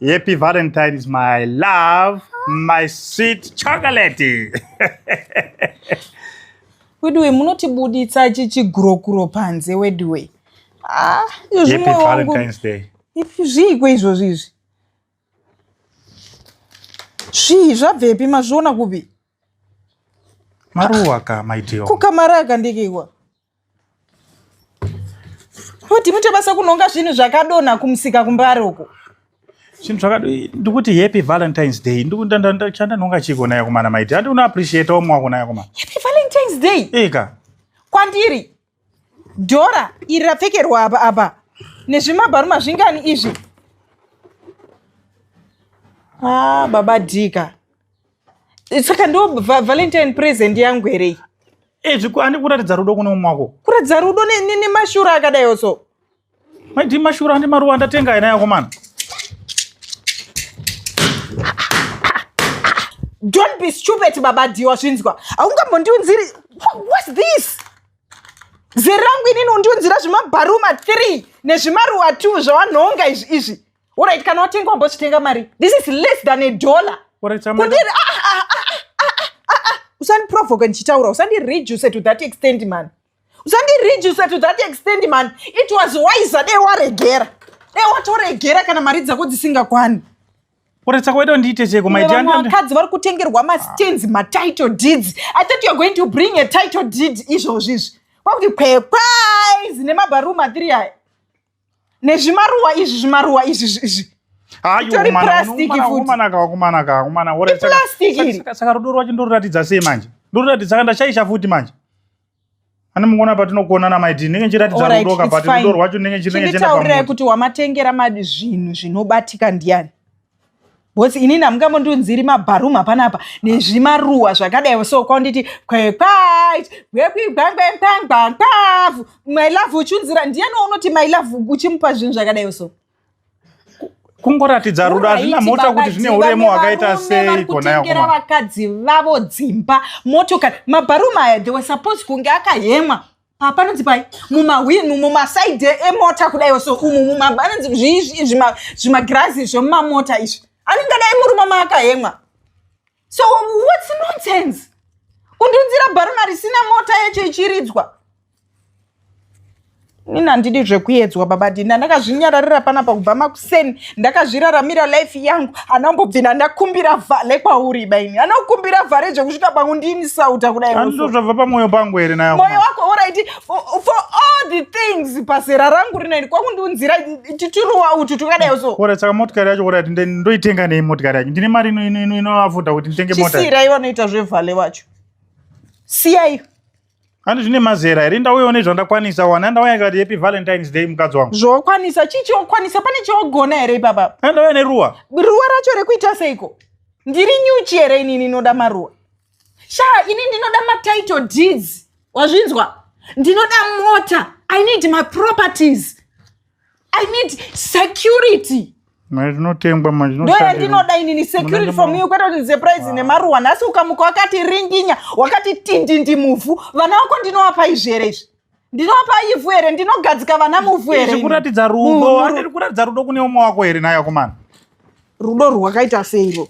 Happy Valentine's, my love, my sweet chocolate. weduwe munotibuditsa chichigurokuro panze weduwe ah, zviiko izvozvi izvi zvii zvabvepi mazviona kupi maruwa ka maitio kukamari akandikiwa Futi mute basa kunonga zvinhu zvakadonha kumusika kumbare uko. Zvinhu zvakadonha ndikuti happy Valentine's Day. Ndikutanda chanda nonga chiko naye kumana maiti. Handi una appreciate omwe wako naye kumana. Happy Valentine's Day. Eka. Kwandiri. Dora iri rapfekerwa apa apa. Nezvimabharuma zvingani izvi. Ah, baba Dika. saka ndo va- valentine present yangu here iyi ezvi ku- andi kuratidza rudo kune umwe wako kuratidza rudo ne- ne- nemashura akadaiwo so maiti mashura andi maruva andatenga ena yako mani don't be stupid baba diwa zvinzwa haungambondiunziri Wha- whats this zera rangu inini undiunzira zvimabharuma 3 nezvimaruwa 2 zvawanhonga izvi izvi Alright, kana watenga wambochitenga mari. This is less than a dollar. Alright, chama. Kundiri ah ah ah ah ah ah. ah, ah. Usani provoke ndichitaura. Usani reduce to that extent man. Usani reduce to that extent man. It was wise dai waregera. Dai watoregera kana mari dzako dzisingakwani. Alright, saka waita ndiite cheko my dear. Vakadzi vari kutengerwa ma stands, ma title deeds. I thought you are going to bring a title deed izvozvi izvi. Kwakuti kwekwai zine mabaroom atiri aya. nezvimaruwa izvi zvimaruwa izvi izvi Itori plastic futi. Saka rudo rwacho ndoruratidza sei manje? Ndoruratidza saka ndashaisha futi manje. Ani mungona patinokona na maiti ndenge chiratidza rudo ka but rudo rwacho ndenge chinenge chenda pamoto. Nditaurira kuti wamatengera madi zvinhu zvinobatika ndiani? Boss inini hamungambondiunziri mabharumu hapana apa nezvimaruwa zvakadai so kwanditi kwekwait kwekuigwangwengwangwangwavu my love uchiunzira ndiyani waunoti my love uchimupa zvinhu zvakadai so kungoratidza rudo hazvina mota kuti zvine uremo hwakaita sei konakutengera vakadzi vavo dzimba motokari mabharumu aya they were supposed kunge akahemwa papa anonzi pai mumahwini mumasaidhi emota kudaiwo so umu mumaanonzi zviizvi zvimagirazi zvemumamota izvi anenge adai murume maakahemwa so whats nonsense kundiunzira bharuna risina mota yacho ichiridzwa ini handidi zvekuyedzwa baba dina ndakazvinyararira panapa kubva maku sen ndakazviraramira life yangu anambobvina ndakumbira vhale kwauri baini anokumbira vhale zvekusvika pangu ndini sauta kudai zvabva pamwoyo pangu here nayo moyo wako oraiti for all the things pazera rangu rinoini kwakundiunzira tituruwa utu tukadai so ora saka motikari yacho oraiti ndoitenga nei motikari yacho ndine mari inoavafuta kuti nditenge mota chisira ivo anoita zvevhale wacho siyaiyo Handi zvine mazera here ndauyawo nezvandakwanisa wana ndauya ikati happy valentines day mukadzi wangu zvokwanisa chii chokwanisa pane chogona here ipapa andauya neruwa ruwa racho rekuita seiko ndiri nyuchi here inini inoda maruwa shaa ini ndinoda matitle deeds wazvinzwa ndinoda mota i need my properties I need security. Mari inotengwa manje. Ndo yandinoda inini security from you kwete kuti surprise ah. nemaruwa. Nhasi ukamuka wakati ringinya, wakati tindindi muvhu. Vana wako ndinowapa izvere izvi. Ndinowapa ivhu here, ndinogadzika vana muvhu here. Izvi kuratidza rudo, handiri kuratidza rudo kune umwe wako here naye akomana. Rudo rwakaita sei iro?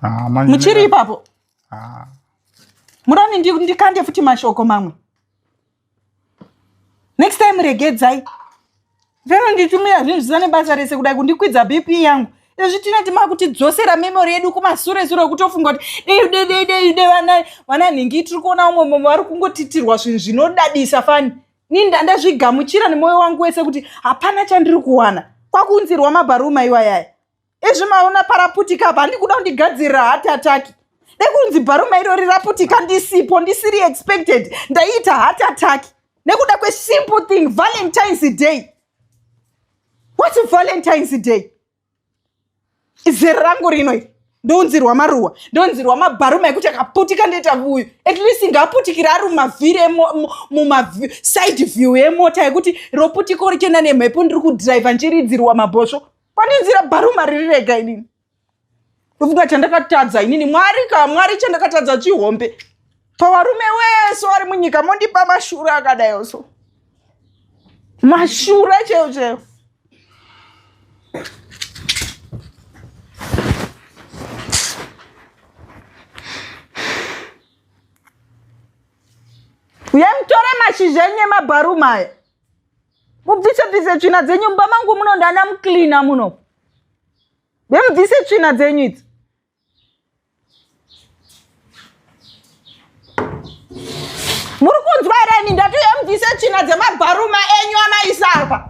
Ah, Muchiri ipapo. Ah. Murani ndikande futi mashoko mamwe. next time regedzai vero nditumira zvinhu zvisina nebasa rese kudai kundikwidza bp yangu izvi tina timaa kutidzosera memori yedu kumasure sure okutofunga kuti deidedeideide vana vana nhingi tiri kuona umwe mumwe vari kungotitirwa zvinhu zvinodadisa fani ni ndandazvigamuchira nemwoyo wangu wese kuti hapana chandiri kuwana kwakuunzirwa mabharuma iwayaya Ezvi maona paraputika apa handikuda kundigadzirira heart attack. Nekunzi bharuma iro riraputika ndisipo ndisiri expected ndaiita heart attack nekuda kwesimple thing Valentine's Day. What's Valentine's Day? Izere rangu rino iri ndounzirwa maruwa ndounzirwa mabharuma ekuti akaputika ndoita vuyu at least ngaaputikire ari mumavhiri mumaside view emota yekuti roputiko richienda nemhepo ndiri kudhiraivha ndichiridzirwa mabhosvo pane nzira bharuma riri rega inini ndofunga chandakatadza inini mwari ka mwari chandakatadza chihombe pavarume wese wari munyika mondipa mashura akadayo so mashura cheo cheo uyai mutore mashizha enye mabharuma aya mubvise bvise tsvina dzenyu mumba mangu muno ndana mucleana muno bemubvise tsvina dzenyu idzi muri kunzwa here ini ndati emubvise tsvina dzemabharuma enyu amaisarwa